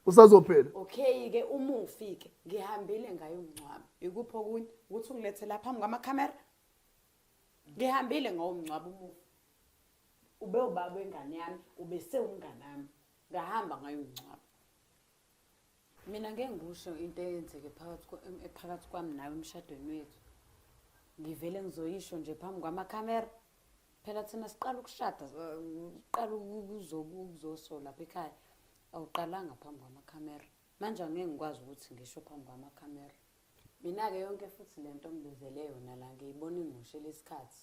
usazophela okay ke uma ufike ngihambile ngayo umncwabo ikuphi okunye ukuthi ungilethe lapha phambi kwamakhamera ngihambile ngawo umncwabo umufi ube ubaba wengane yami ube sewumngane wami ngahamba ngayo umncwabo mina ngeke ngikusho into eyenzeke phakathi ephakathi kwami nawe emshadweni wethu ngivele ngizoyisho nje phambi kwamakhamera phela thina siqala ukushada siqala ukuzosola lapha ekhaya awuqalanga phambi kwamakhamera manje angeke ngikwazi ukuthi ngisho phambi kwamakhamera mina-ke yonke futhi le nto ngibizele yona la ngiyibona ingushe lesikhathi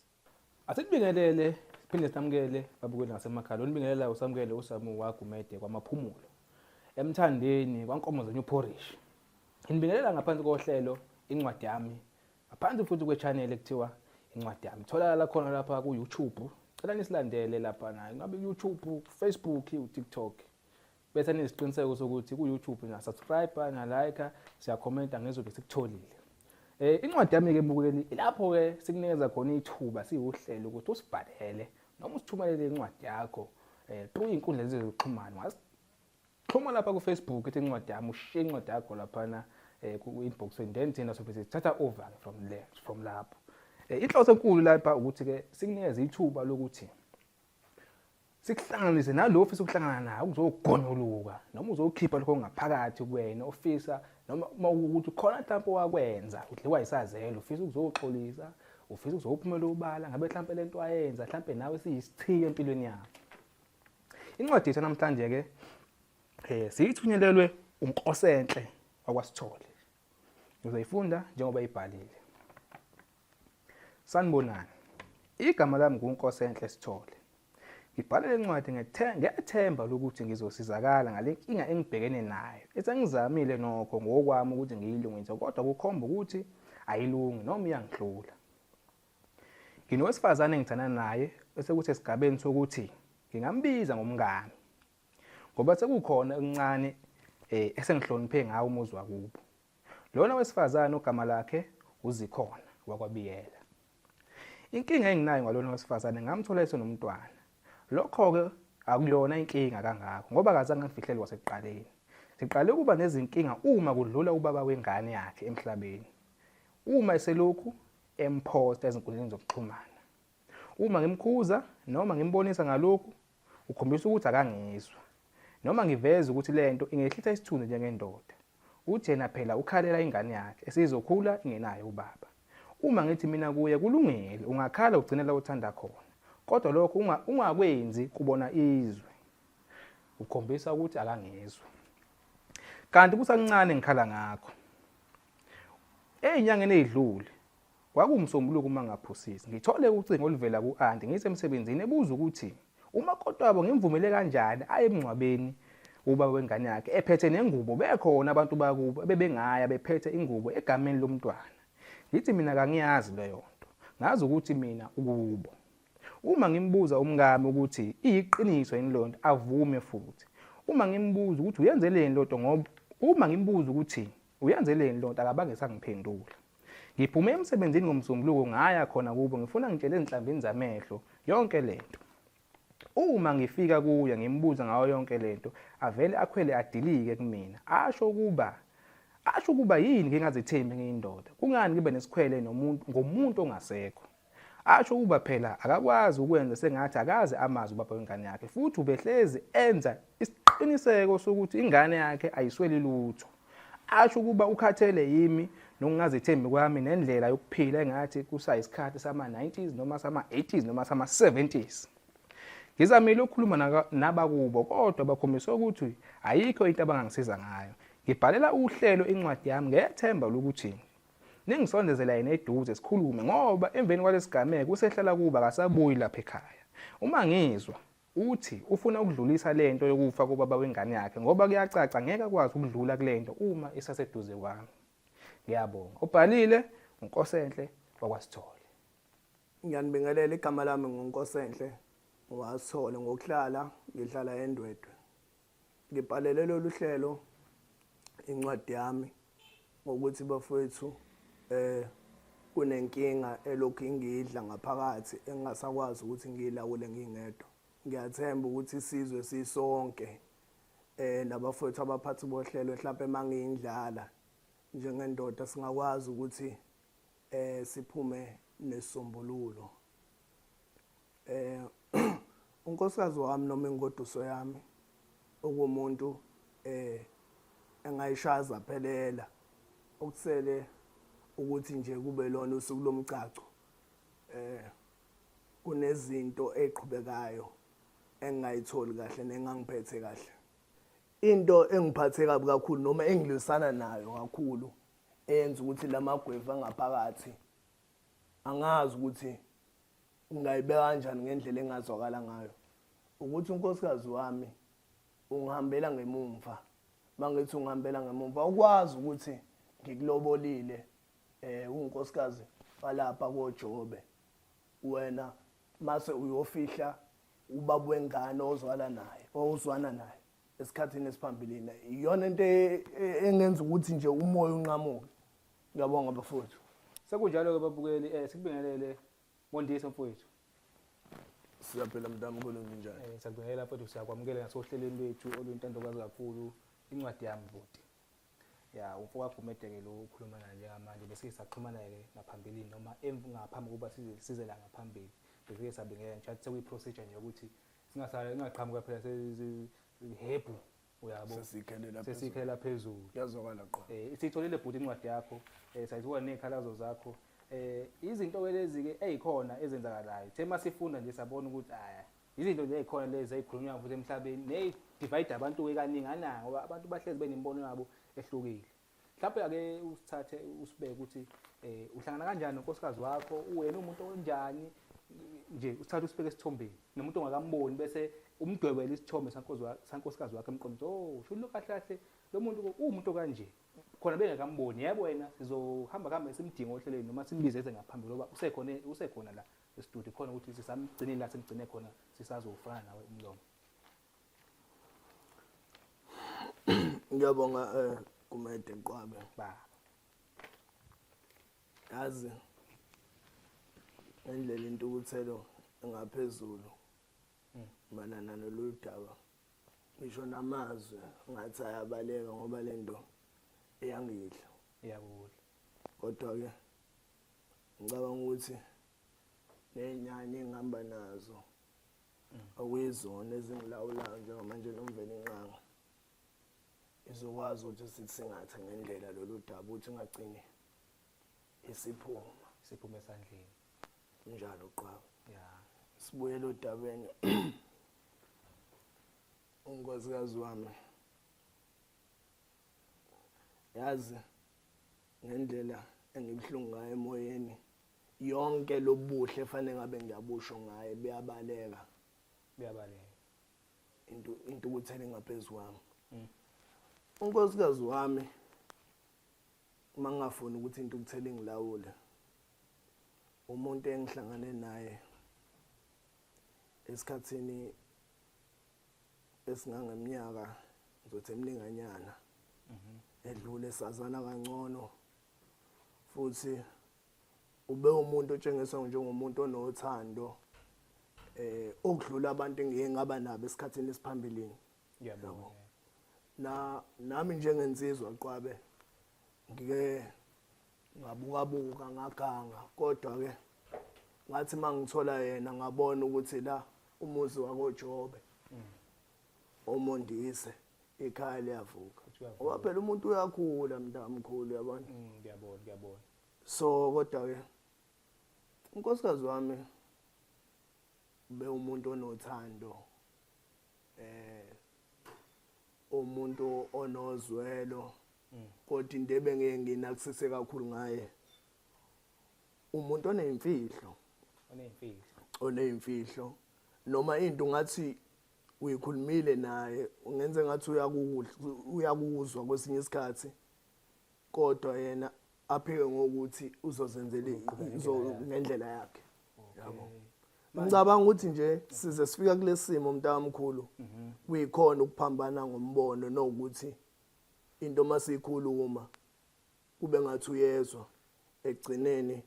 asikubingelele siphinde samukele babukeli ngasemakhaya lo nibingelela usamukele usamu wagumede kwamaphumulo emthandeni kwankomo zenye uphorishi nginibingelela ngaphansi kohlelo incwadi yami Ngaphansi futhi kwechannel ekuthiwa incwadi yami. Tholakala khona lapha ku YouTube. Cela nisilandele lapha na. Ngabe YouTube, Facebook, uTikTok. Bese nisiqiniseko sokuthi ku YouTube na subscribe na like, siya commenta ngezobe sikutholile. Eh incwadi yami ke mbukeli lapho ke sikunikeza khona ithuba siwuhlelo ukuthi usibhalele noma usithumelele incwadi yakho eh through inkundla zezokuxhumana Xhuma lapha ku Facebook ithi incwadi yami ushiye incwadi yakho laphana eh, ku inbox and then thina sobe sithatha over from there from lapho. Eh, inhloso enkulu lapha ukuthi ke sikunikeze ithuba lokuthi sikuhlanganise nalo ofisa ukuhlangana naye ukuzogonyuluka noma uzokhipha lokho ngaphakathi kuwena ofisa noma uma ukuthi khona mhlawumbe wakwenza udliwa isazelo ufisa ukuzoxolisa ufisa ukuzophumela ubala ngabe mhlawumbe lento wayenza mhlawumbe nawe siyisithiyo empilweni yakho Incwadi yethu namhlanje ke eh siyithunyelelwe uNkosenhle wakwasithole. Uzoyifunda njengoba ibhalile. Sanibonani. Igama lami nguNkosenhle Sithole. Ngibhala le ncwadi ngethemba lokuthi ngizosizakala ngale nkinga engibhekene nayo. Esengizamile nokho ngokwami ukuthi ngiyilungise kodwa kukhomba ukuthi ayilungi noma iyangihlula. Nginowesifazane engithanda naye esekuthi esigabeni sokuthi ngingambiza ngomngani ngoba sekukhona okuncane eh esengihloniphe ngawo umuzi wakubo. Lona wesifazane ogama lakhe uzikhona wakwabiyela. Inkinga enginayo ngalona wesifazane ngamthola esenomntwana. Lokho ke akuyona inkinga kangako ngoba akazange ngifihlele kwasekuqaleni. Siqale ukuba nezinkinga uma kudlula ubaba wengane yakhe emhlabeni. Uma eselokhu emphosta ezinkundleni zokuxhumana. Uma ngimkhuza noma ngimbonisa ngalokhu, ukhombisa ukuthi akangizwa. Noma ngiveza ukuthi le nto ingehlisa isithunzi njengendoda. Uthi yena phela ukhalela ingane yakhe esizokhula ingenaye ubaba. Uma ngithi mina kuye kulungile, ungakhala ugcine la uthanda khona. Kodwa lokho ungakwenzi kubona izwe. Ukhombisa ukuthi akangizwa. Kanti kusancane ngikhala ngakho. Ezinyangeni ezidlule kwakungusombuluko uma ngaphosisa. Ngithole ucingo oluvela ku-anti ngisemsebenzini ebuza ukuthi umakoti wabo ngimvumele kanjani aye emngcwabeni ubaba wengane yakhe ephethe nengubo bekhona abantu bakubo ebebengaya bephethe ingubo egameni lomntwana ngithi mina kangiyazi leyo nto ngazi ukuthi mina ukubo uma ngimbuza umngami ukuthi iyiqiniso yini leyo nto avume futhi uma ngimbuza ukuthi uyenzeleni leyo nto ngoba uma ngimbuza ukuthi Uyenzeleni lo nto akabange sangiphendula. Ngiphume emsebenzini ngomsombuluko ngaya khona kubo ngifuna ngitshele ezinhlambini zamehlo yonke lento. Uma ngifika kuye ngimbuza ngayo yonke lento avele akhwele adilike kumina asho ukuba asho ukuba yini ngingazethembi ngiyindoda kungani ngibe nesikhwele nomuntu ngomuntu ongasekho. Asho ukuba phela akakwazi ukwenza sengathi akazi amazi ubaba wengane yakhe futhi ubehlezi enza isiqiniseko sokuthi ingane yakhe ayisweli lutho. Asho ukuba ukhathele yimi nokungazethembi kwami nendlela yokuphila engathi kusayisikhathi sama-90s noma sama-80s noma sama-70s. Ngizamile ukukhuluma nabakubo kodwa bakhombise ukuthi ayikho into abangangisiza ngayo. Ngibhalela uhlelo incwadi yami ngethemba lokuthi Ningisondezela yena eduze sikhulume ngoba emveni kwalesigameko usehlala kuba akasabuyi lapha ekhaya. Uma ngizwa uthi ufuna ukudlulisa lento yokufa kobaba wengane yakhe ngoba kuyacaca ngeke akwazi ukudlula kulento uma isaseduze kwami. Ngiyabonga. Ubhalile uNkosenhle wakwaSithole. Ngiyanibingelela igama lami nguNkosenhle wasithole ngokuhlala ngihlala eNdwedwe. ngibhalele lolu hlelo incwadi yami ngokuthi bafowethu eh kunenkinga elokhu ingidla ngaphakathi engingasakwazi ukuthi ngiyilawule ngingedwa ngiyathemba ukuthi isizwe sisonke eh nabafowethu abaphathi bohlelo mhlawumbe mangiyindlala njengendoda singakwazi ukuthi eh siphume nesombululo eh unkosikazi wami noma ingoduso yami okumuntu eh engayishaza phelela okusele ukuthi nje kube lona usuku lomgcagco eh kunezinto eqhubekayo engingayitholi kahle nengangiphethe kahle into engiphathe kabi kakhulu noma engilwisana nayo kakhulu eyenza ukuthi lamagwevu angaphakathi angazi ukuthi ngingayibeka kanjani ngendlela engazwakala ngayo ukuthi unkosikazi wami ungihambela ngemumva mangithi ungihambela ngemumva ukwazi ukuthi ngikulobolile eh unkosikazi balapha koJobe wena mase uyofihla ubaba wengane ozwala naye ozwana naye esikhathini esiphambilini iyona into e, e, engenza ukuthi nje umoya unqamuke Ngiyabonga bafowethu. Sekunjalo-ke babukeli, um sikubingelele Mondisa mfowethu. Siyaphila mntanga ubona njani? Eh sakubingelela mfowethu siyakwamukela ngasohlelweni lwethu oluyintandokazi kakhulu incwadi yami bhuti. Ya umfo wakho umedeke lo ukhuluma naye njengamanje bese saxhumana ke ngaphambilini noma ngaphambi kokuba size size la ngaphambili. Bese sabingelela nje athi sekuyi procedure nje ukuthi singasale ingaqhamuka phela sezi hebhu uyabo sesikhelela sesikhelela phezulu yazwakala qo eh sitholile bhuti incwadi yakho eh sayizwa nezikhalazo zakho eh izinto ke lezi ke ezikhona ezenzakalayo the masifunda nje sabona ukuthi aya izinto nje ezikhona lezi ezikhulunywa futhi emhlabeni ne divide abantu ke kaningi ananga ngoba abantu bahlezi benemibono yabo ehlukile mhlawumbe ake usithathe usibeke ukuthi eh uhlangana kanjani nonkosikazi wakho uwena umuntu onjani nje usithathe usibeke esithombeni nomuntu ongakamboni bese umdwebela isithombe sankosikazi wakhe emqondo oh usho lo kahle kahle lo muntu uwumuntu kanje khona bengakamboni yebo wena sizohamba kuhambe simdinga ohlelweni noma simbize eze ngaphambili ngoba usekhona usekhona la estudio khona ukuthi sisamgcinile la simgcine khona sisazofana nawe umlomo ngiyabonga eh kumede nqwabe ba yazi ngendlela intukuthelo engaphezulu manana noludaba ngisho namazwi ngathi ayabaleka ngoba lento eyangidla iyakudla kodwa ke ngicabanga ukuthi nenyanya engihamba nazo okuyizona ezingilawulayo njengamanje nomveni inqanga izokwazi ukuthi sithingathe ngendlela lolu daba ukuthi ingagcini isiphuma siphume esandleni njalo qaba ya sibuyele odabeni unkosikazi wami yazi ngendlela engibuhlungu ngayo emoyeni yonke lobuhle efanele ngabe ngiyabusho ngaye buyabaleka buyabaleka into into ukuthela ingaphezu kwami mm. unkosikazi wami uma ngingafuni ukuthi into ukuthela ingilawule umuntu engihlangane naye esikhathini esingangeminyaka ngizothi emninganyana mhm. edlule sazana kangcono futhi ubewumuntu otshengisa njengomuntu onothando eh okudlula abantu engiye ngaba nabo esikhathini esiphambilini ngiyabonga na nami njengensizwa qwabe ngike ngabuka buka ngaganga kodwa ke ngathi mangithola yena ngabona ukuthi la umuzi wakoJobe mm. omondise ikhaya liyavuka ngoba phela umuntu uyakhula mntamkhulu yabona mm, ngiyabona ngiyabona so kodwa ke unkosikazi wami be umuntu onothando eh umuntu onozwelo mm. kodwa into ebengeke nginakisise kakhulu ngaye umuntu oneyimfihlo oneyimfihlo oneyimfihlo noma into ngathi uyikhulumile naye ungenze ngathi uyakuzwa kwesinye isikhathi kodwa yena aphike ngokuthi uzozenzela ngendlela yakhe yabo ngicabanga ukuthi nje size sifika kulesimo mntamkhulu mhm. kuyikhona ukuphambana ngombono nokuthi into masiyikhuluma kube ngathi uyezwa egcineni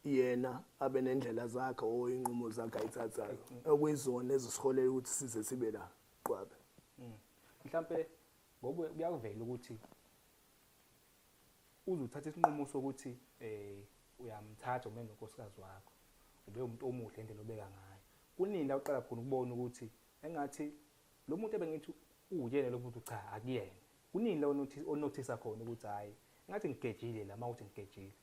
yena abe nendlela zakhe or inqumo zakhe ayithathayo okuyizona ezisiholela ukuthi size sibe la qwabe mm. mhlampe ngoku kuyakuvela ukuthi uzuthatha isinqumo sokuthi eh uyamthatha ume nonkosikazi wakho ube umuntu omuhle indlela obeka ngayo kunini la uqala khona ukubona ukuthi engathi lo muntu ebengithi uyena lo muntu cha akuyena kunini la onothisa khona ukuthi hayi ngathi ngigejile la mawuthi ngigejile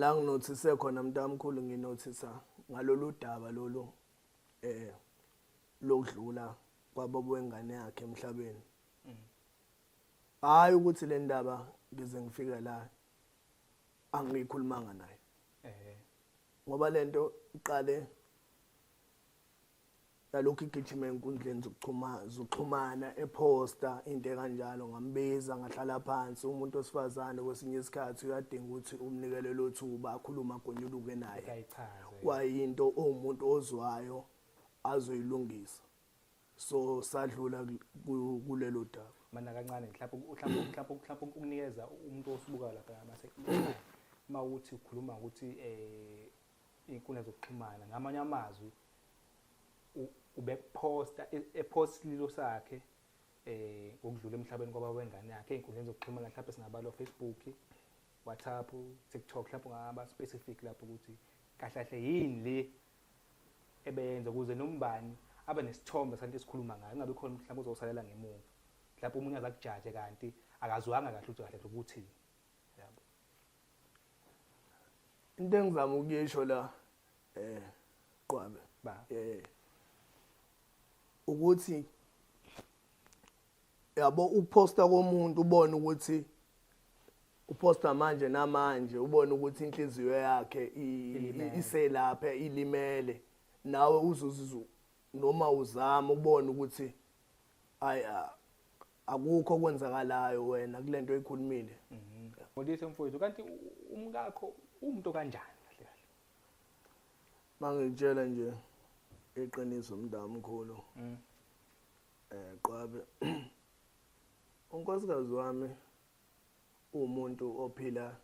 la nginothise khona mntamkhulu nginothisa ngalolu daba lolu eh lokudlula kwababa wengane yakhe emhlabeni hayi ukuthi le ndaba ngize ngifike la angiyikhulumanga naye ngoba lento iqale nalokhu igijima enkundleni zokuxhumana ephosta into ekanjalo ngambiza ngahlala phansi umuntu osifazane kwesinye isikhathi uyadinga ukuthi umnikele lo thuba akhulume agonyuluke naye kwayinto owumuntu ozwayo azoyilungisa so sadlula kulelo daba mana kancane mhlawumbe ukunikeza umuntu osubuka lapha mase uma uthi ukhuluma ukuthi um inkundla zokuxhumana ngamanye amazwi ubekuphosta e-, ephosta isililo sakhe eh ngokudlula emhlabeni kwaba wengane yakhe einkundleni zokuxhumana mhlawumbe singabala Facebook WhatsApp TikTok mhlawumbe ngaba specific lapho ukuthi kahle kahle yini le ebeyenza ukuze nombani abe nesithombe santo esikhuluma ngayo ingabe khona mhlawumbe uzosalela ngemuva mhlawumbe umuntu azakujaje kanti akazwanga kahle ukuthi kahle ukuthi into engizama ukuyisho la eh qwabe ba eh ukuthi yabo ukuposta komuntu ubone ukuthi uposta manje namanje ubone ukuthi inhliziyo yakhe iselapha ilimele nawe uzuzizu noma uzama ubone ukuthi ay akukho okwenzakalayo wena kule nto oyikhulumile Modise mhm. mfowethu kanti umkakho umuntu kanjani kahle kahle Mangitshela nje iqiniso mntamkhulu mm. eh qwabe unkosikazi wami umuntu ophila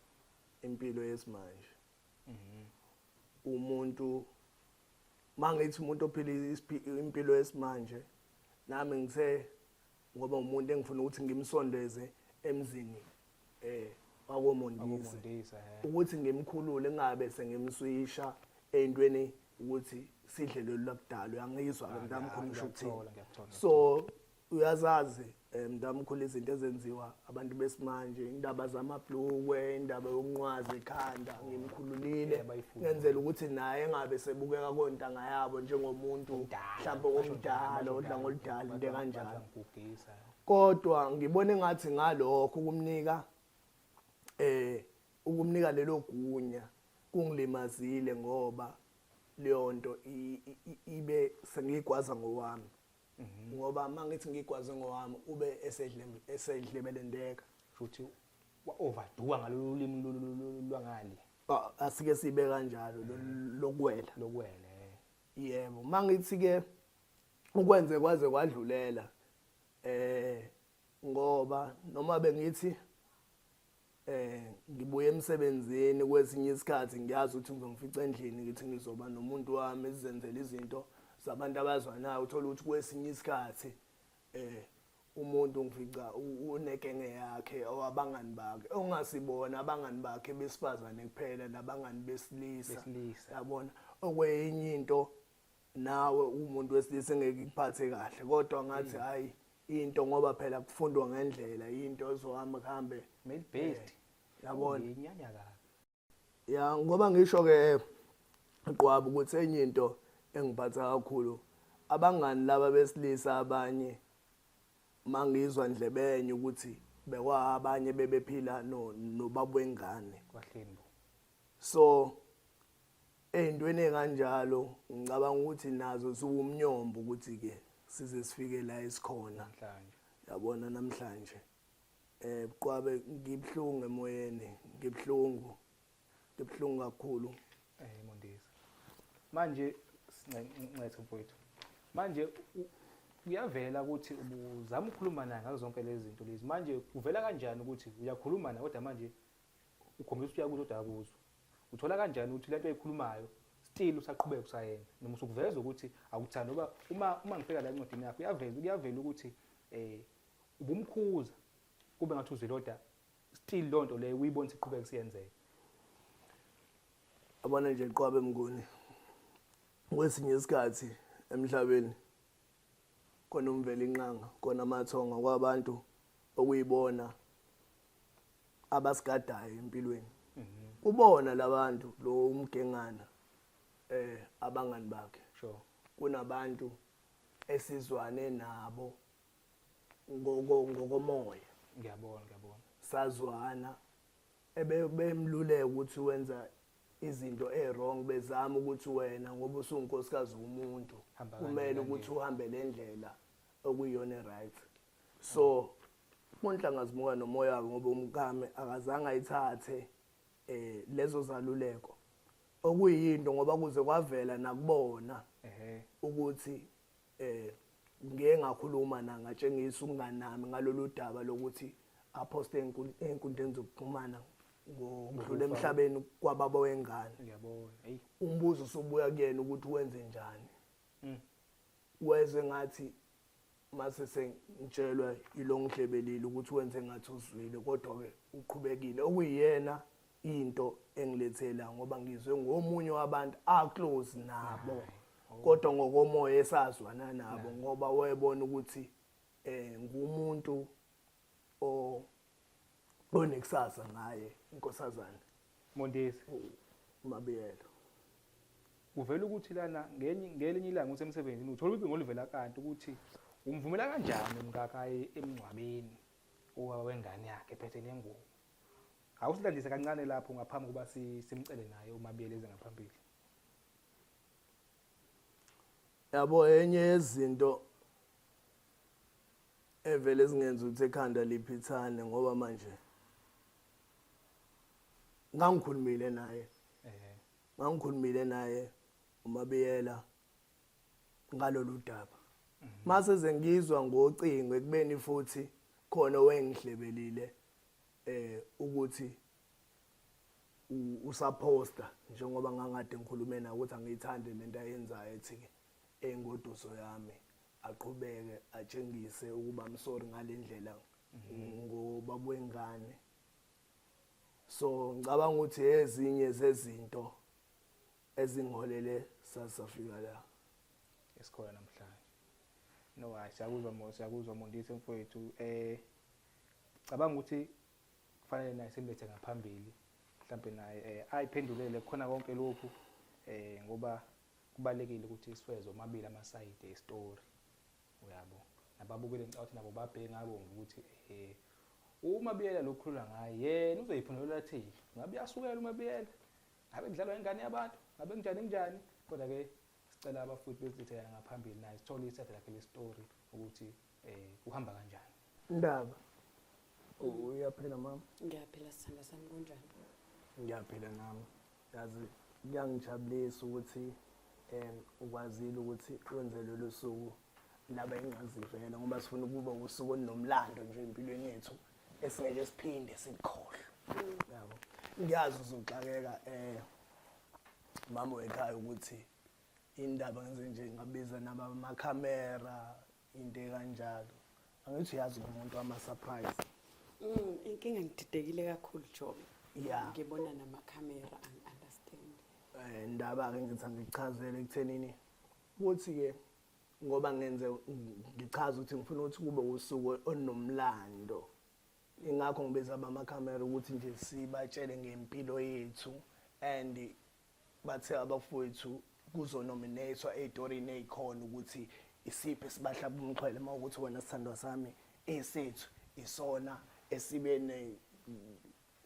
impilo yesimanje mhm. umuntu mangithi umuntu ophila impilo yesimanje nami ngise ngoba umuntu engifuna ukuthi ngimsondeze emzini eh wakomondisa eh. ukuthi ngimkhulule ngabe sengimswisha entweni ukuthi sidle lolu lakudalo yangizwa ke ah, mntamkhulu ngisho ukuthini so uyazazi eh, mntamkhulu izinto ezenziwa abantu besimanje indaba zamabhlukwe indaba yokunqwaza ekhanda ngimkhululile ngenzela ukuthi naye engabe sebukeka kontanga yabo njengomuntu mhlawumbe omdala odla ngoludala into kanjalo kodwa ngibona engathi ngalokho ukumnika eh ukumnika lelo gunya kungilimazile ngoba leyo nto ibe sengiyigwaza ngowami Mhm. ngoba mangithi ngigwaze ngowami ube esedle esedlebelendeka futhi wa overduwa ngalolu limi lwangale ah, asike sibe kanjalo mhm. lokwela lokwela eh. yebo mangithi ke ukwenze kwaze kwadlulela eh ngoba noma bengithi eh ngibuye emsebenzini kwesinye isikhathi ngiyazi ukuthi ngizongifica endlini ngithi ngizoba nomuntu wami sizenzele izinto zabantu abazwanayo uthola ukuthi kwesinye isikhathi eh umuntu ngifica unekenge yakhe owabangani bakhe ongasibona abangani bakhe besifazane kuphela nabangani besilisa yabona okweyinye into nawe umuntu wesilisa engeke ikuphathe kahle kodwa ngathi hayi into ngoba phela kufundwa ngendlela into ezohamba kuhambe male based yabona inyanya ka ya ngoba ngisho ke qwabu ukuthi enye into engiphatha kakhulu abangani laba besilisa abanye mangizwa ndlebenye ukuthi bekwa abanye bebephila no nobabwengane kwahleni so Ey'ntweni ey'kanjalo ngicabanga ukuthi nazo ziwumnyombo ukuthi-ke size sifike la esikhona yabona namhlanje eh buqwabe ngibuhlungu emoyeni ngibuhlungu ngibuhlungu kakhulu eh mondisa manje sincethe mfowethu manje kuyavela ukuthi ubuzama ukukhuluma naye ngazo zonke lezi zinto lezi manje kuvela kanjani ukuthi uyakhuluma naye kodwa manje ukhombisa ukuthi uyakuzwa kodwa akuzwa uthola kanjani ukuthi lento ayikhulumayo still usaqhubeka usayenza noma usukuveza ukuthi awuthandi ngoba uma uma ngifika la encwadini yakho uyaveza kuyavela ukuthi eh ubumkhuza kube ngathi uziloda still loo nto leyo uyibona siqhubeka kusiyenzeka abona nje qwabe mnguni kwesinye isikhathi emhlabeni khona umvela inqanga khona amathonga kwabantu okuyibona abasigadayo empilweni kubona labantu lo umgengana eh abangani bakhe sure kunabantu esizwane nabo ngoko ngokomoya ngiyabona ngiyabona sazwana ebemluleka ukuthi wenza izinto ewrong bezama ukuthi wena ngoba usungunkosikazi womuntu kumele ukuthi uhambe lendlela okuyiyona right so monhlanga zimuka nomoya wabo ngoba umkami akazange ayithathe eh lezo zaluleko okuyinto ngoba kuze kwavela nakubona ehe ukuthi eh ngeke ngakhuluma na ngatshengisa umngani nami ngalolu daba lokuthi aphoste enkun- enkundleni zokuxhumana ngokudlula emhlabeni kwababa wengane ngiyabona hey umbuzo usubuya kuyena ukuthi wenze njani Mm. wezwe ngathi mase sengitshelwa yilo ngihlebelile ukuthi wenze ngathi uzwile kodwa-ke uqhubekile okuyiyena into engilethela ngoba ngizwe ngomunye wabantu aclose nabo oh. kodwa ngokomoya esazwana nabo ngoba wayebona ukuthi um ngumuntu o onekusasa ngaye inkosazane Mondesi umabiyelo kuvela ukuthi lana ngenye ngelinye ilanga ukuthi emsebenzini uthola ibingo olivela kanti ukuthi umvumela kanjani umkakayi emngcwabeni uwa wengane yakhe phethe nengubo awusilandise kancane lapho ngaphambi kuba simcele naye umabiyelo eze ngaphambili yabo enye yezinto evele zingenza ukuthi ekhanda liphithane ngoba manje ngangikhulumile naye eh ngangikhulumile naye umabiyela ngalolu daba mase zengizwa ngocingo ekubeni futhi khona owengihlebelile eh ukuthi usaphosta njengoba ngangade ngikhulume naye ukuthi angiyithande lento ayenzayo ethi ke engoduso yami aqhubeke atshengise ukuba I'm sorry ngalendlela ngobaba wengane so ngicabanga ukuthi ezinye zezinto ezingolele sasafika la esikhona namhlanje no hayi siyakuzwa mo siyakuzwa mondisi mfowethu eh cabanga ukuthi kufanele naye simbethe ngaphambili mhlambe naye eh ayiphendulele khona konke lokhu eh ngoba kubalekile ukuthi siwezwe omabili amasayidi estory uyabo nababukeli ngicabanga ukuthi nabo babheke ngabo ukuthi eh uma biyela lokukhulula ngaye yena uzoyiphumelela thile ngabe uyasukela uma biyela ngabe kudlalwa ingane yabantu ngabe kunjani kunjani kodwa ke sicela abafuthi bezithela ngaphambili naye sithole isethe lakhe le story ukuthi eh kuhamba kanjani ndaba uyaphila mama ngiyaphila sithanda sami kunjani ngiyaphila nami yazi kuyangijabulisa ukuthi um ukwazile ukuthi wenze lolu suku laba engazivela ngoba sifuna ukuba usuku olunomlando nje empilweni yethu esingeke siphinde sikhohlwe yabo ngiyazi uzoxakeka um mama wekhaya ukuthi indaba ngenze nje ngabiza nabamakhamera into ekanjalo angithi uyazi umuntu wama-surprise Mm, inkinga ngididekile kakhulu job Yeah. ngibona namakhamera angi-understand Eh, ndaba-ke ngithi angichazele ekuthenini ukuthi-ke ngoba ngenze ngichaza ukuthi ngifuna ukuthi kube usuku olunomlando ingakho ngibiza abamakhamera ukuthi nje sibatshele ngempilo yethu and Bathe abafowethu kuzonominathwa ey'torini ey'khona ukuthi isiphi esibahlaba umxhwele uma ukuthi wena sithandwa sami esethu isona esibe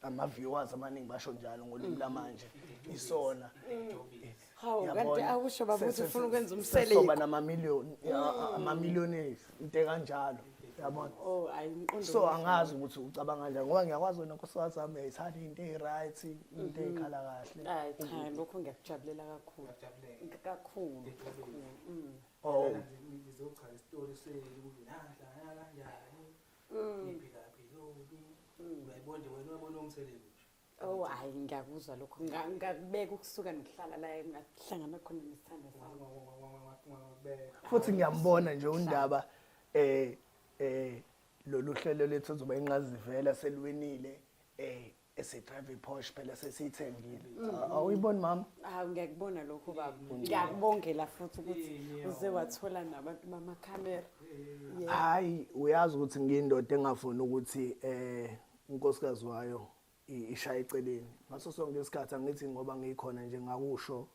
ama-viewers amaningi basho njalo ngolimi lamanje isona hawu kanti akusho babuthi ufuna ukwenza umselesoba namamiliyoni amamiliyoni ethu into ekanjalo yabona oh ayi umqondo so angazi ukuthi ucabanga kanjani ngoba ngiyakwazi wena nkosikazi wami uyayithanda into eyi-right into eyikhala kahle ayi cha lokho ngiyakujabulela kakhulu kakhulu kakhulu mm. oh ngizochaza isitori senu ukuthi nahla kanjani ngiphila phi loku uyayibona nje wena uyabona umsebenzi Oh hayi ngiyakuzwa lokho ngakubeka ukusuka ngihlala la ngahlangana khona nesithando sami. Futhi ngiyambona nje undaba eh eh lolu hlelo lethu ozoba inqazivela selwinile eh esidrive iPorsche phela sesiyithengile. Mm. Awuyiboni mama? Hawu ngiyakubona lokho baba. Ngiyakubongela futhi ukuthi uze wathola nabantu bama camera. Hayi uyazi ukuthi ngiyindoda engafuni ukuthi eh unkosikazi wayo ishaya eceleni ngaso sonke isikhathi angithi ngoba ngikhona nje ngakusho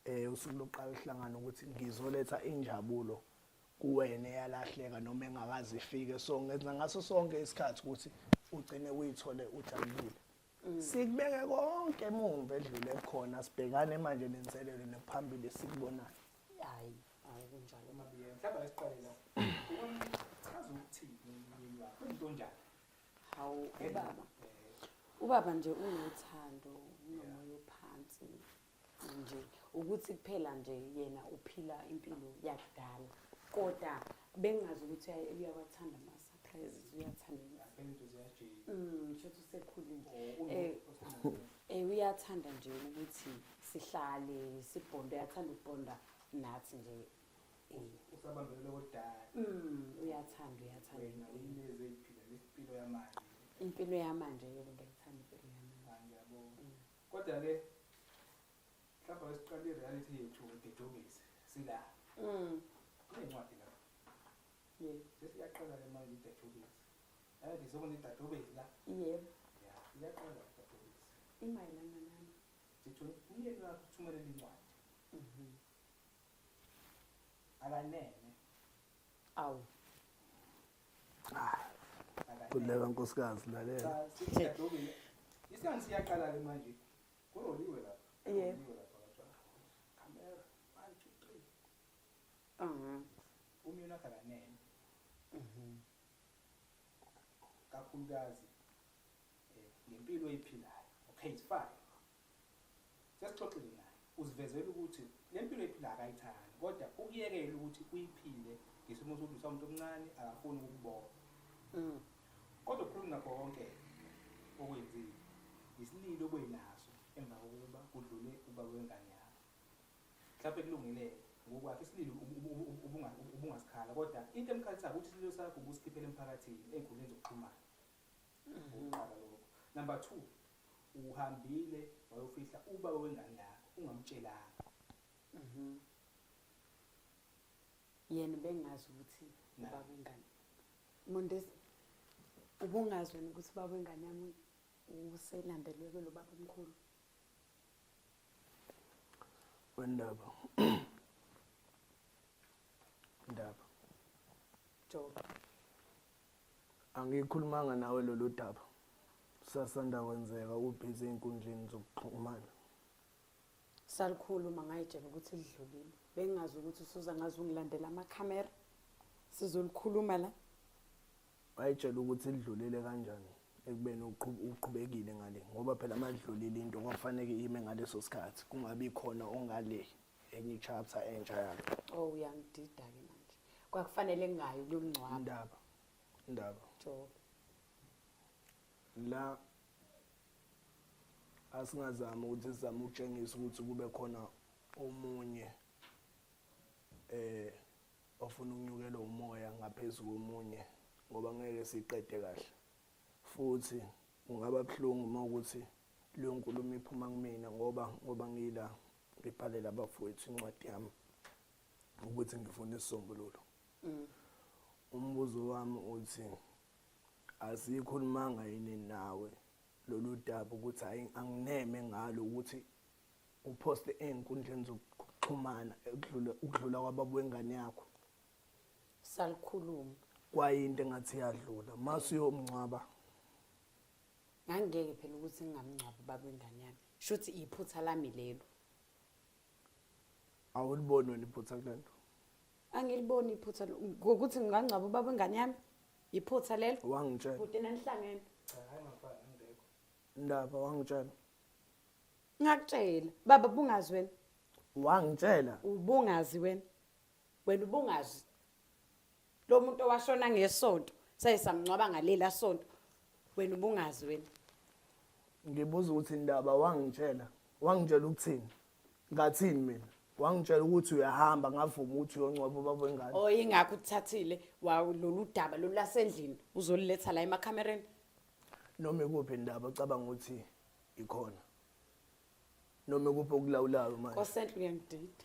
eh usuku lokuqala uhlangana ukuthi ngizoletha injabulo kuwena eyalahleka noma engakazi ifike so ngenza ngaso sonke isikhathi ukuthi ugcine uyithole ujabulile mm. sikubeke konke emumva edlule khona sibhekane manje nenselelo nekuphambili sikubonayo hayi hayi kunjalo mabiyeni mhlawumbe lesiqale la uchaza ukuthi yini wakho into njani hawu ubaba ubaba nje unothando unomoya ophansi nje ukuthi kuphela nje yena uphila impilo yakudala kodwa bengazi ukuthi uyawathanda ama-surprises uyathanda mm, shothi usekhulile um eh, eh, uyathanda nje ukuthi sihlale sibhonde uyathanda ukubhonda nathi nje usabambelele kodala mm uyathanda uyathanda wena ineze iphila lesimpilo yamanje impilo yamanje yebo ngiyithanda impilo yamanje ah, ngiyabonga mm. kodwa ke mhlawumbe wesiqala i-reality yethu ngididukise sila mm incwadi la yebo sesiyaqala le manje ididukise yathi sokune ididukise la yebo ya iyaqala ididukise imayelana nani sithi umyeni wakho uthumelela incwadi mhm akanene awu kuleka nkosikazi lalela isikhathi siyaqala ke manje kuroliwe lapha yebo kamera 1 2 3 mhm umyona kalanene mhm kakhulukazi eh, ngempilo oyiphilayo okay it's fine Sesixoxile naye, usivezela ukuthi le mpilo ayiphilayo akayithandi kodwa ukuyekela ukuthi uyiphile ngesimo sokuthi umuntu omncane akafuni ukukubona. Mm. Kodwa ukhuluma ngakho konke okwenzile yisililo obenaso emva kokuba kudlule ubaba wengane yakho. Mhlawumbe kulungile ngokwakhe isililo ubungasikhala kodwa into emkhalisayo ukuthi isililo sakho ubusikhiphela emphakathini ey'nkundleni zokuxhumana. Mm-hmm. Ukuqala lokho. Number two, uhambile wayofihla ubaba wengane yakho ungamtshelanga mhm yena bengazi ukuthi ubaba wengane mondesi ubungazi wena ukuthi ubaba wengane yami uselandelwe kulo baba omkhulu wendaba ndaba joba Angikhulumanga nawe lolu daba. Sasanda kwenzeka ubhizi ey'nkundleni zokuxhumana. Salikhuluma ngayitshela ukuthi lidlulile. Bengingazi ukuthi usuza ngaze ungilandela amakhamera. Sizolikhuluma la. Wayitshela ukuthi lidlulile kanjani ekubeni uqhu- uqhubekile ngale ngoba phela uma lidlulile into kwakufaneke ime ngaleso sikhathi kungabi khona ongale enye chapter entsha yakhe oh uyangidida ke manje kwakufanele ngayo kuyomngcwaba indaba indaba jobe la asingazama ukuthi sizame ukutshengisa ukuthi kube khona omunye eh ofuna ukunyukelwa umoya ngaphezulu komunye ngoba ngeke siqede kahle futhi kungaba buhlungu uma ukuthi leyo nkulumo iphuma kumina ngoba ngoba ngila ngibhalela abafowethu incwadi yami ukuthi ngifuna isisombululo mm. umbuzo wami uthi asikhulumanga yini nawe lolu daba ukuthi hayi angineme ngalo ukuthi uphoste ey'nkundleni zokuxhumana ekudlula ukudlula kwababa wengane yakho salikhuluma kwayinto engathi yadlula masuyomngcwaba ngangeke phela ukuthi ngingamngcwabi ubaba wengane yami shuthi iphutha lami lelo awuliboni wena iphutha kulento angiliboni iphutha ngokuthi ngingangcwabi ubaba wengane yami iphutha lelo wangitshela kude nanihlangene cha hayi ngafana ngibeko ndaba wangitshela ngakutshela baba bungazi wena wangitshela ubungazi wena wena ubungazi lo muntu owashona ngesonto saye samngcwaba ngalela sonto wena ubungazi wena ngibuza ukuthi indaba wangitshela wangitshela ukuthini ngathini mina wangitshela ukuthi uyahamba ngavuma ukuthi uyongcwaba ubaba wengane oh ingakho uthathile lolu daba lolu lasendlini uzoliletha la emakhamereni noma ikuphi indaba ocabanga ukuthi ikhona noma ikuphi okulawulayo manje kosenhle uyangidida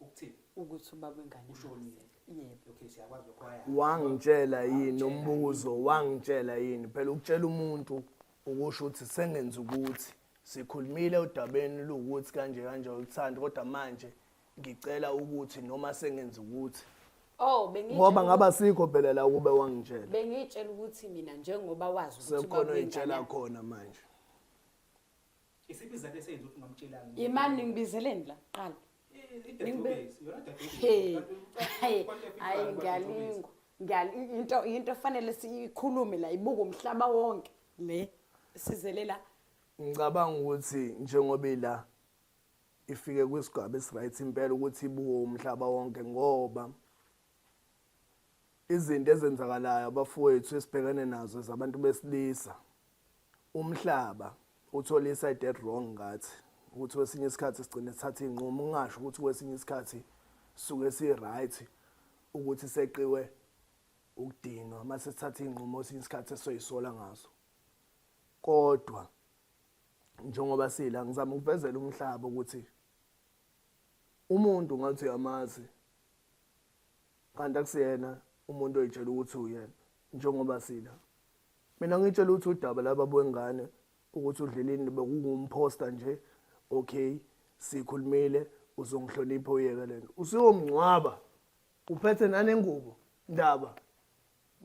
Ukuthini? Ukuthi ubaba wengane ushonile. Yebo. Okay, siyakwazi lokho haya. Wangitshela yini umbuzo, wangitshela yini? Phela ukutshela umuntu ukusho ukuthi sengenza ukuthi sikhulumile odabeni luwukuthi kanje kanje uthanda kodwa manje ngicela ukuthi noma sengenza ukuthi Oh bengi ngoba ngaba sikho phela la kube wangitshela. Bengitshela ukuthi mina njengoba wazi ukuthi sekhona uyitshela khona manje. Isiphi izathu esenza ukuthi ungamtshelanga? Yimani ningibizeleni la kuqala. Hayi ngiyalinga. Ngiyal into into efanele siyikhulume la ibuka umhlaba wonke le sizelela. Ngicabanga ukuthi njengoba ila ifike kwisigaba esiright impela ukuthi ibuke umhlaba wonke ngoba Izinto ezenzakalayo abafowethu esibhekene nazo zabantu besilisa. Umhlaba uthola iside wrong ngathi ukuthi kwesinye isikhathi sigcine sithatha iy'nqumo ungasho ukuthi kwesinye isikhathi suke si-right ukuthi seqiwe ukudinwa uma sesithatha iy'nqumo esinye isikhathi esoyisola ngazo kodwa njengoba sila ngizama ukuvezela umhlaba ukuthi umuntu ngathi uyamazi kanti akusiyena umuntu oyitshela ukuthi uyena njengoba sila mina ngitshela ukuthi udaba laba bwengane ukuthi udlelini bekuwumphosta nje okay sikhulumile uzongihlonipha uyeke lento usiyomngcwaba uphethe nanengubo ndaba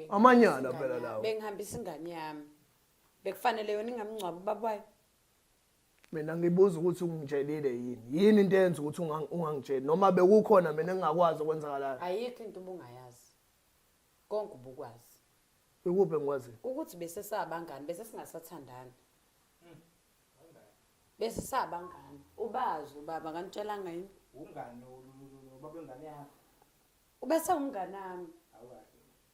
amanyala phela lawo bengihambisa ingane yami bekufanele yona ingamngcwaba ubaba wayo mina ngibuza ukuthi ungitshelile yini yini into eyenza ukuthi ungang- ungangitsheli noma bekukhona mina engingakwazi okwenzakalayo ayikho into ubungayazi konke ubukwazi ikuphi engikwaziyo ukuthi bese sabangani bese singasathandani bese sabangani ubazi ubaba kanitshelanga yini Ungani lo- lo- lo- lo- lo- babengane yakho. ubese umngani wami Awukahle.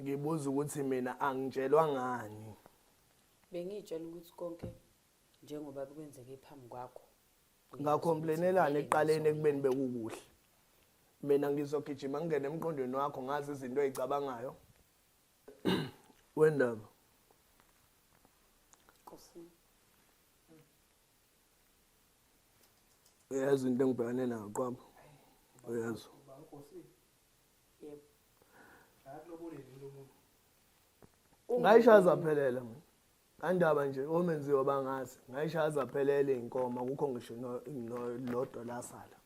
ngibuza ukuthi mina angitshelwa ngani bengiyitshela ukuthi konke njengoba kwenzeke phambi kwakho ngakhomplenelana eqaleni ekubeni bekukuhle mina ngizogijima ngingene emqondweni wakho ngazi izinto ezicabangayo wendaba uyazi into engibhekane nayo qwaba uyazi ngayishaya zaphelela mina andaba nje omenziwa bangazi ngayishaya zaphelela iy'nkomo akukho ngisho lodwa lasala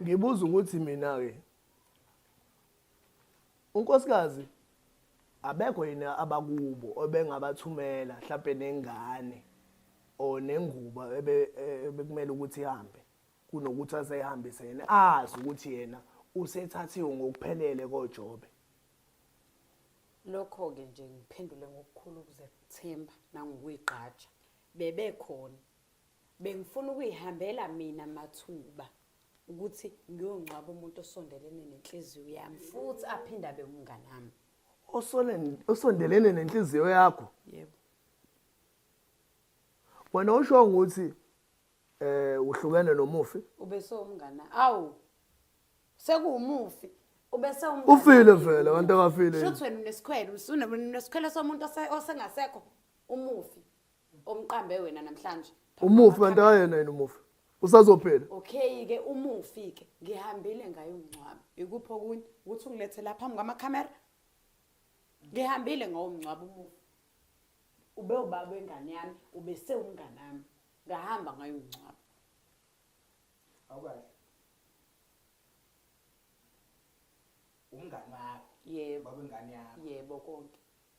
Ngibuza ukuthi mina ke unkosikazi abekho yini abakubo obengabathumela mhlawumbe nengane or nengubo e, ebekumele ukuthi ihambe kunokuthi aseyihambise yena azi ukuthi yena usethathiwe ngokuphelele koJobe lokho-ke nje ngiphendule ngokukhulu ukuzethemba nangokuyigqaja bebekhona Bengifuna ukuyihambela mina mathuba ukuthi ngiyongcwaba umuntu osondelene nenhliziyo yami futhi aphinde abe umngane wami. Osolen osondelene nenhliziyo yakho. Yebo. Wena usho ukuthi eh uhlukene nomufi? Ubese umngane. Awu. Sekuwumufi. Ubese umngane. Ufile vele abantu abafile. Shothi wena unesikhwele, usunesikhwele somuntu osengasekho umufi. omqambe wena namhlanje umufi kanti ayena yena umufi usazophela okay ke umufi ke ngihambile ngayo umncwabi ikuphi okunye ukuthi ungilethe lapha phambi kwamakhamera ngihambile ngawo umncwabi umufi ube ubaba wengane yami ube sewumngane wami ngahamba ngayo umncwabi awukahle umngane wakho yebo babengane yakho yebo konke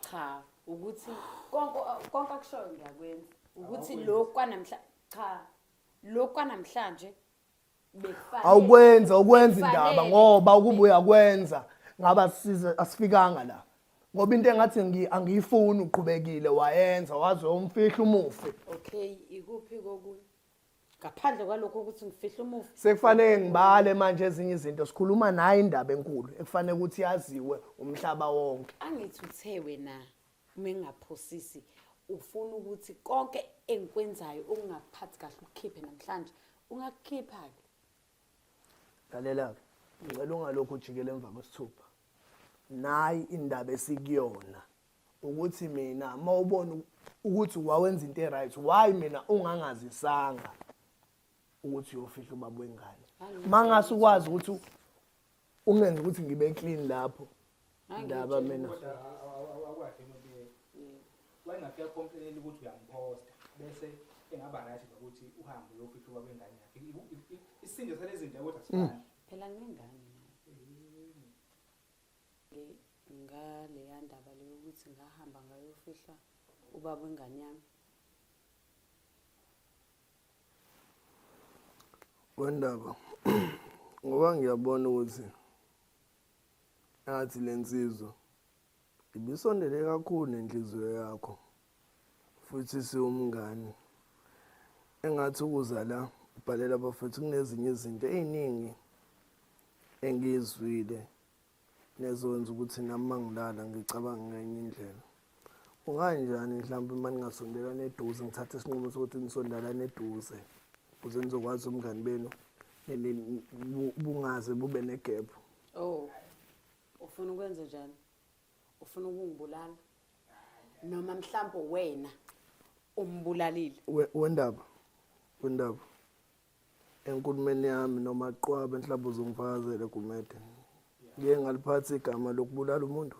cha ukuthi konke konke akushoyo ngiyakwenza ukuthi Awukwenzi. lokhu kwanamhla cha lokhu kwanamhlanje bekufanele awukwenza ukwenza indaba Bekufanele. ngoba ukube uyakwenza ngabe asisize asifikanga la ngoba into engathi ngi- angiyifuni uqhubekile wayenza waze umfihla umufi okay ikuphi kokunye ngaphandle kwalokho ukuthi ngifihle umufi sekufanele ngibale manje ezinye izinto sikhuluma naye indaba enkulu ekufanele ukuthi yaziwe umhlaba wonke angithi uthe wena uma engaphosisi ufuna ukuthi konke engikwenzayo ungaphathi kahle ukukhiphe namhlanje ungakukhipha-ke lalela-ke ngicela ungalokhu ujikele emva kwesithupha nayi indaba esikuyona ukuthi mina uma ubona ukuthi wawenza into e-right why mina ungangazisanga ukuthi uyofihla ubaba wengane uma ngase ukwazi ukuthi ungenze ukuthi ngibe clean lapho ndaba mina wayengafika complainela ukuthi uyamposta bese engaba right nokuthi uhambe uyofihla ubaba wengane yakhe isinde salezinto kodwa sifana mm. phela ngengane ngaleya ndaba le yokuthi ngahamba ngayofihla ubaba wengane yami wendaba ngoba ngiyabona ukuthi ngathi le nsizwa ibisondele kakhulu nenhliziyo yakho futhi siwumngani engathi ukuza la ubhalela abafethu kunezinye izinto ey'ningi engiyizwile nezokwenza ukuthi nami uma ngilala ngicabange ngenye indlela kunganjani mhlawumbe uma ningasondelani eduze ngithathe isinqumo sokuthi nisondelane eduze ukuze nizokwazi umngani benu bungaze bube negebhu oh ufuna ukwenza njani ufuna ukungibulala noma mhlawumbe wena umbulalile We- wendaba wendaba enkulumeni yami noma qwabe mhlawumbe uzongifakazele gumede ngiye ngaliphathi igama lokubulala umuntu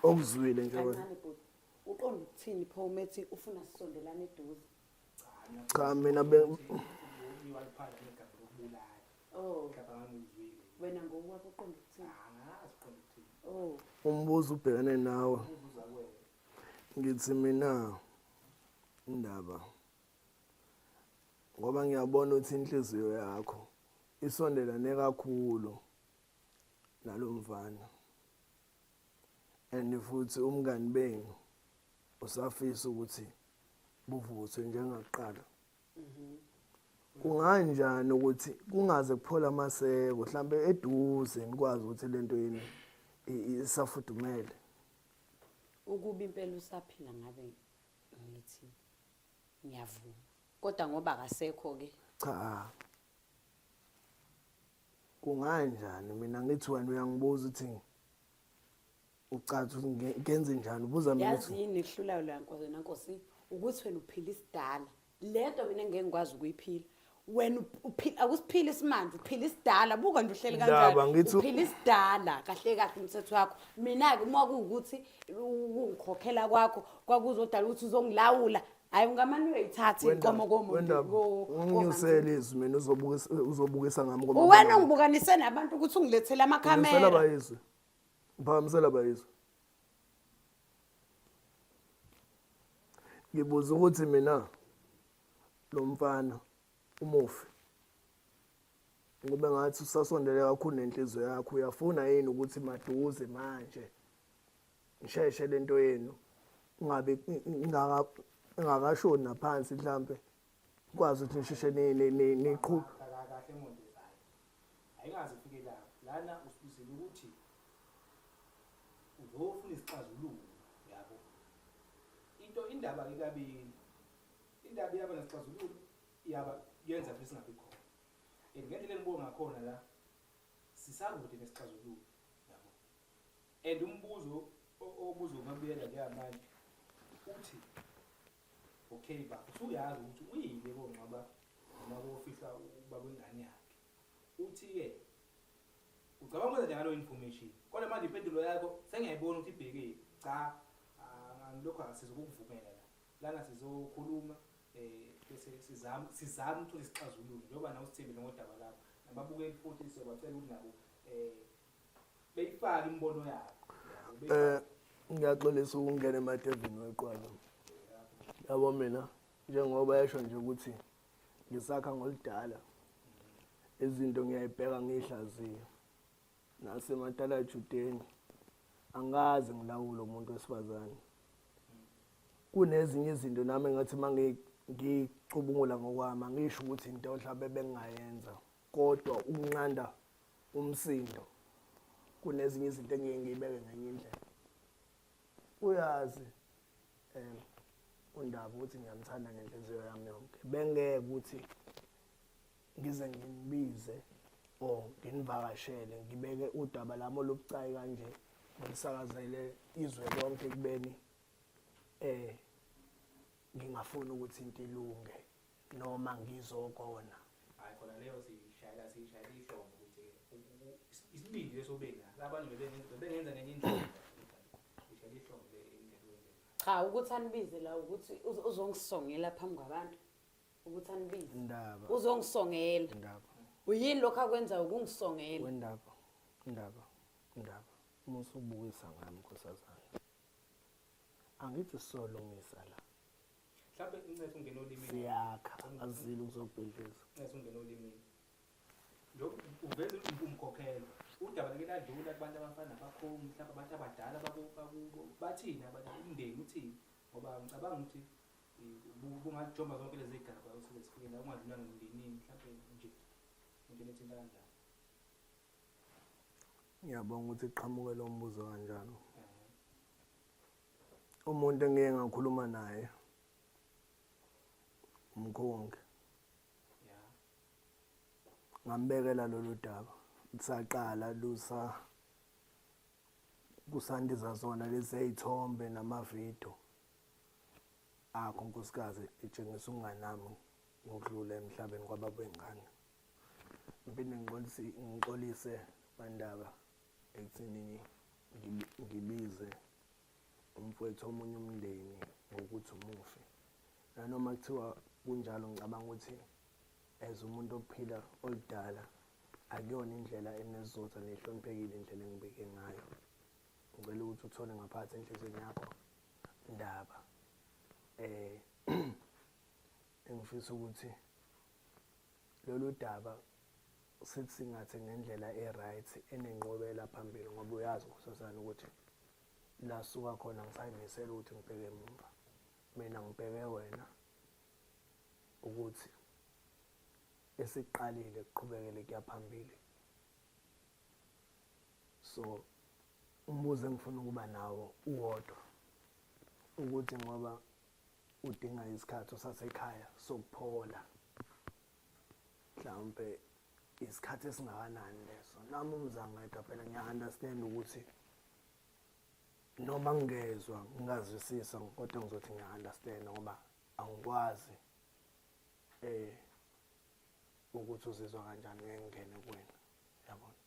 okuzwile nje wena kancane bhuti uqonda ukuthini pho umethi ufuna sisondelane eduze cha mina be oh. wena ngowakho uqonda ukuthini ah, oh. umbuzo ubhekene nawe ngithi mina indaba ngoba ngiyabona ukuthi inhliziyo yakho isondelane kakhulu nalo mfana and futhi umngani benu usafisa ukuthi buvuthwe njengakuqala mhm. kunganjani ukuthi kungaze kuphola amaseko mhlambe eduze nikwazi ukuthi lento yini isafudumele ukuba impela usaphila ngabe ngithi ngiyavuma kodwa ngoba akasekho ke cha kunganjani mina ngithi wena uyangibuza ukuthi ucathi ukuthi nge- ngenze njani ubuza mina yazi ukuthi yini ehlulayo la nkosi wena nkosi ukuthi wena uphila isidala le nto mina ngeke ngikwazi ukuyiphila wena up- uphi- akusiphili isimanje uphila isidala buka nje uhleli Ndaba, kanjani ngithi- uphila isidala kahle kahle umthetho wakho mina-ke uma kuwukuthi ukungikhokhela kwakho kwakuzodala ukuthi uzongilawula hayi ungamane uyayithatha inkomo komuntuunginyusele izwi mina uzobukisa ngami uwena ungibukanise nabantu ukuthi ungilethele amakhamera bayizwe uphakamisela bayizwe ngibuza ukuthi mina lo mfana umufi ngoba ngathi usasondele kakhulu nenhliziyo yakho uyafuna yini ukuthi maduze manje ngisheshe lento yenu ngabe ngaka ngakashoni naphansi mhlambe kwazi ukuthi ngisheshe ni ni niqhub kahle emonde zayo ayingazi ufike la lana usibizile ukuthi uzofuna isixazululo yabo into indaba ikabili indaba yaba nesixazululo yaba yenza futhi singabi khona and ngendlela enibonga ngakhona la sisakude nesixazululo and umbuzo obuzobabuyela njengamanje uthi okay ba usuyazi ukuthi uyile kongcwaba noma kofihla uba kwengane yakhe uthi-ke ucabanga ukwenza njalo information kodwa manje impendulo yakho sengiyayibona ukuthi ibhekile cha angilokhu asiza ukukuvumela la lana sizokhuluma um bese sizame sizame ukuthola isixazululo njengoba nawe usithembile ngodaba lakho nababukeli futhi siyobacela ukuthi nabo um beyifaka imibono yabo eh ngiyaxolisa ukungena emadevini weqwala yabo mina njengoba yasho nje ukuthi ngisakha ngoludala izinto ngiyayibheka ngihlaziye nasematala judeni angazi ngilawula umuntu wesifazane kunezinye izinto nami ngathi mangicubungula ngokwami angisho ukuthi into mhlawumbe bengingayenza kodwa ukunqanda umsindo kunezinye izinto engeke ngiyibeke ngenye indlela uyazi um undaba ukuthi ngiyamthanda ngenhliziyo yami yonke bengeke ukuthi ngize ngimbize or nginivakashele ngibeke udaba lami olubucayi kanje ngisakazele izwe lonke kubeni eh ngingafuni ukuthi into ilunge noma ngizokona hayi khona leyo siyishayela siyishayela ihlombo ukuthi isibindi leso benga labanye bebengenza bebengenza ngenye indlela ishayela ihlombo le cha ukuthi anibize la ukuthi uzongisongela phambi kwabantu ukuthi anibize indaba uzongisongela indaba uyini lokho akwenza ukungisongela indaba indaba indaba uma usubukisa ngami nkosazana angithi solungisa la mhlawumbe incese ungena olimini siyakha azile ngizokubhedleza incese ungena olimini njengoba uveza umkhokhelo udaba like ladlula kubantu abafana nabakhomu mhlawumbe abantu abadala bakubo bathini abantu umndeni uthini ngoba ngicabanga ukuthi bungajomba zonke lezi gaba osike sifike la ungadlulanga emndenini mhlawumbe nje into lethinta kanjani ngiyabonga ukuthi qhamuke lo mbuzo kanjalo umuntu engike ngakhuluma naye umkhongi ngambekela lolu daba kusaqala lusa kusandiza zona lezeyithombe namavidiyo akho nkosikazi itshengisa ukunganami ngokudlula emhlabeni kwababengane ngipinde ngixolise bandaba ekuthenini ngibize umfowethu omunye umndeni ngokuthi umufi nanoma kuthiwa kunjalo ngicabanga ukuthi as umuntu ophila oludala akuyona indlela enesizotha nehloniphekile indlela engibeke ngayo ngicela ukuthi uthole ngaphathi enhlizweni yakho ndaba eh engifisa ukuthi lolu daba sithi singathi ngendlela e-right enenqobela phambili ngoba uyazi ukhosazana ukuthi la suka khona ngisayimisela ukuthi ngibheke emuva mina ngibheke wena ukuthi esiqalile kuqhubekele kuya phambili so umbuzo engifuna ukuba nawo uwodwa ukuthi ngoba udinga isikhathi usasekhaya sokuphola mhlawumbe isikhathi esingakanani leso nami umzangeda phela ngiya-understand ukuthi noma ngingezwa ngingazwisisa kodwa ngizothi ngiya-understand ngoba angikwazi eh ukuthi uzizwa kanjani ngengene kuwena yabona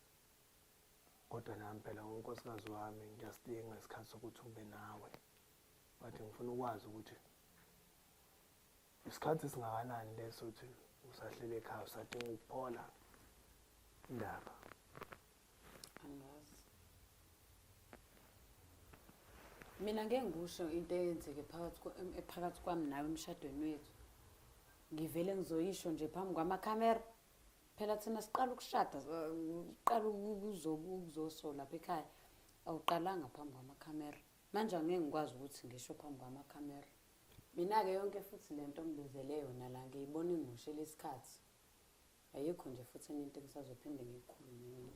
kodwa nami phela unkosikazi wami ngiyasdinga isikhathi sokuthi ube nawe Ngathi ngifuna ukwazi ukuthi isikhathi singakanani leso ukuthi usahlele ekhaya usadinga ukuphola indaba. Angazi. Mina ngeke ngikusho into eyenzeke phakathi ephakathi kwami nawe emshadweni wethu. Ngivele ngizoyisho nje phambi kwamakhamera. Phela thina siqala ukushada, siqala ukuzosola lapha ekhaya. Awuqalanga phambi kwamakhamera. Manje angeke ngikwazi ukuthi ngisho phambi kwamakhamera. Mina-ke yonke futhi le nto ngibizele yona la ngiyibona ingimoshela isikhathi. Ayikho nje futhi enye into engisazophinde ngiyikhulume mina.